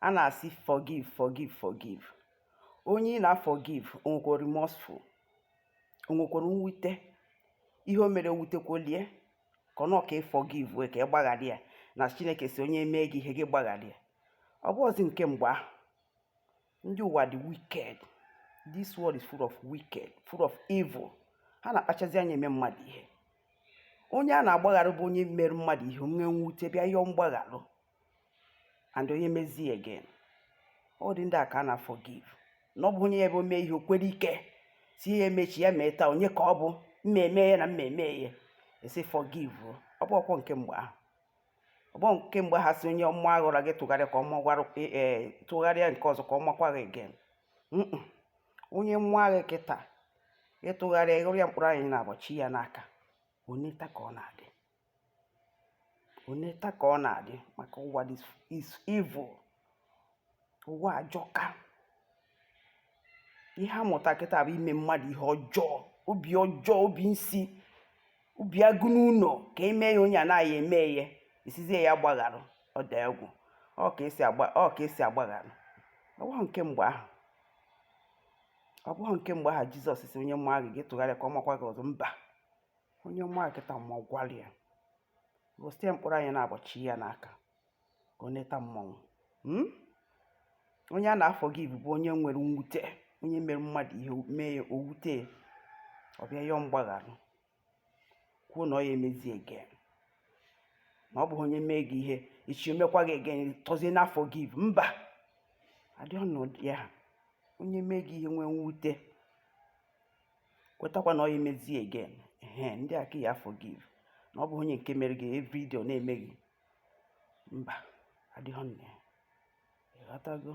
a na-asị forgive forgive forgive onye ị na-forgive o nwekwara remorseful o nwekwara mwute ihe o mere wutekwalị ya ka ọ ka forgive wee ka ị gbaghara ya na chineke sị onye mee gị ihe gị gbaghara ya ọ bụhọzi nke mgbe ahụ ndị ụwa dị wicked this world is full of wicked full of evil ha na-akpachazi anya eme mmadụ ihe onye a na-agbagharụ bụ onye mere mmadụ ihe nwee mwute bịa yọọ mgbagharụ and onye mezie again ọ ụdị ndị a ka a na-forgive na ọ bụhọ onye ya ebe o mee ihe o kwere ike si ya e mee echi ya mee taa onye ka ọ bụ mmemme ya na mmemme ya a sị forgive o. ọ bụhọkwa nke mgbe ahụ ọ bụhọ nke mgbe ahụ a sị onye maa gị ọra gị tụgharịa ka ọ maa gị ọra ee tụgharịa nke ọzọ ka ọ makwa gị again Mm-mm. onye maa gị kịta ị tụgharịa ị ghọrọ ya mkpụrụ anya naabọ chị ya n'aka o neta ka ọ na-adị o neta ka ọ na-adị maka ụwa is evil ụwa ajọka ihe a mụta kịta bụ ime mmadụ ihe ọjọọ obi ọjọọ obi nsi obi agụ n'ụlọ ka e mee ya onye anaghị eme ya a sịzie ya gbagharụ ọ dị egwu ọ ka e si agba ọ ka e si agbagharụ ọ bụhọ nke mgbe ahụ ọ bụghị nke mgbe ahụ jizọs sị onye maa gị tụgharịa ka ọ makwa gị ọzọ mba onye maa gị kịta magwara ya ghọsị ya mkpụrụ anya naabọ chị ya n'aka ka ọ neta mmanwụ hmm? onye a na-forgive bụ onye nwere mwute onye mere mmadụ ihe mee ya o wute ọ bịa yọọ mgbagharụ kwuo na ọ ya emezie again na ọ bụghị onye mee gị ihe echi o mekwaa gị again tọzie na-forgive mba adịghị ọnọdụ ya onye mee gị ihe nwee mwute kwetakwa na ọ ya emezie again ehe ndị a ka a ya forgive na ọ bụhọ onye nke mere gị every day ọ na-eme gị mba adịghị nne ị ghọtago